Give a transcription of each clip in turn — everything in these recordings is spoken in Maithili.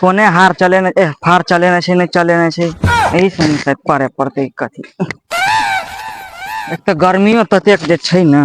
कोने हार चलेने ए हार चलेने छै नहि चलेने छै एहि सब मे पड़े पड़तै कथी एक तऽ गर्मीओ ततेक जे छै ने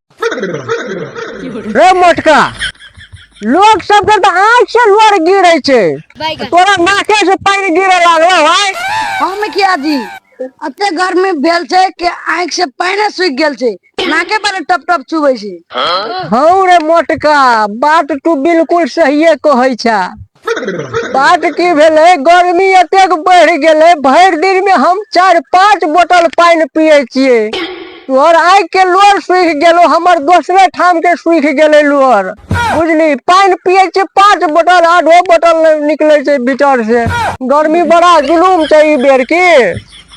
रे मोटका लोग सब के तऽ आँख से लोर गिरे छै तोरा नाके से पानी गिरे लागलो है हम किया जी अते गर्मी भेल छै कि आँख से पानी सूखि गेल छै नाके पर टप टप चुबै छै हौ रे मोटका बात तू बिल्कुल सहिए कहै छा बात की भेलै गर्मी एतेक बढ़ि गेलै भरि दिन मे हम चारि पाँच बोतल पानि पियै छियै तोहर आँखि के लोर सूखि गेलो हमर दोसरे ठाम के सूखि गेलै लोर बुझली पानि पियै छियै पाँच बोतल आधो बोतल नहि निकलै छै भीतर से गर्मी बड़ा जुलूम छै ई बेर की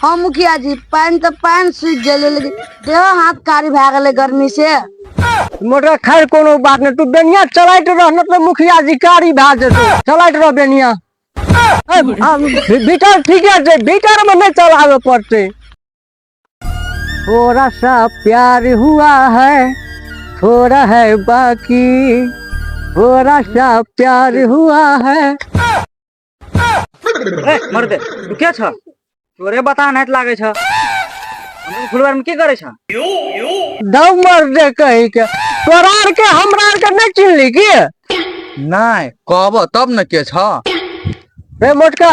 हँ मुखिया जी पानि तऽ पानि सूखि गेलै लेकिन देह हाथ कारी भए गेलै गर्मी से मोटर खैर कोनो बात नहि तू बेनिया चलाइत रह न तऽ मुखिया जी कारी भए जेतौ चलाइत रह बेनिया ए, आ, भी- भीतर ठीके छै भीतर में नहीं चलावे पड़ते थोड़ा सा प्यार हुआ है थोड़ा है बाकी थोड़ा सा प्यार हुआ है मरदे तू के छ तोरे बता नहीं लागे छ हम फुलवार में की करे छ दौ मरदे कही के तोरा आर के हमरा आर के नहीं चिन्हली की नहीं कहब तब न के छ रे मोटका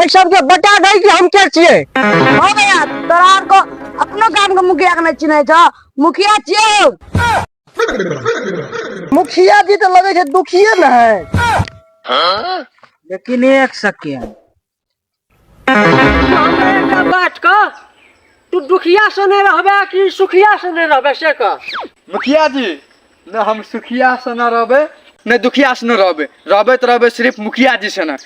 ऐ सब के बता दे कि हम के छिए हो गया तोरा आर को अपनो गांव के मुखिया के नहीं चिन्है छ मुखिया छिए मुखिया जी तो लगे छे दुखिए न है लेकिन एक सेकेंड बात का तू दुखिया से नहीं रहबे कि सुखिया से नहीं रहबे से का मुखिया जी न हम सुखिया से न रहबे न दुखिया से न रहबे रहबे तो रहबे सिर्फ मुखिया जी से न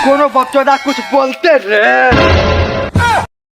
कोनो बच्चोदा कुछ बोलते रे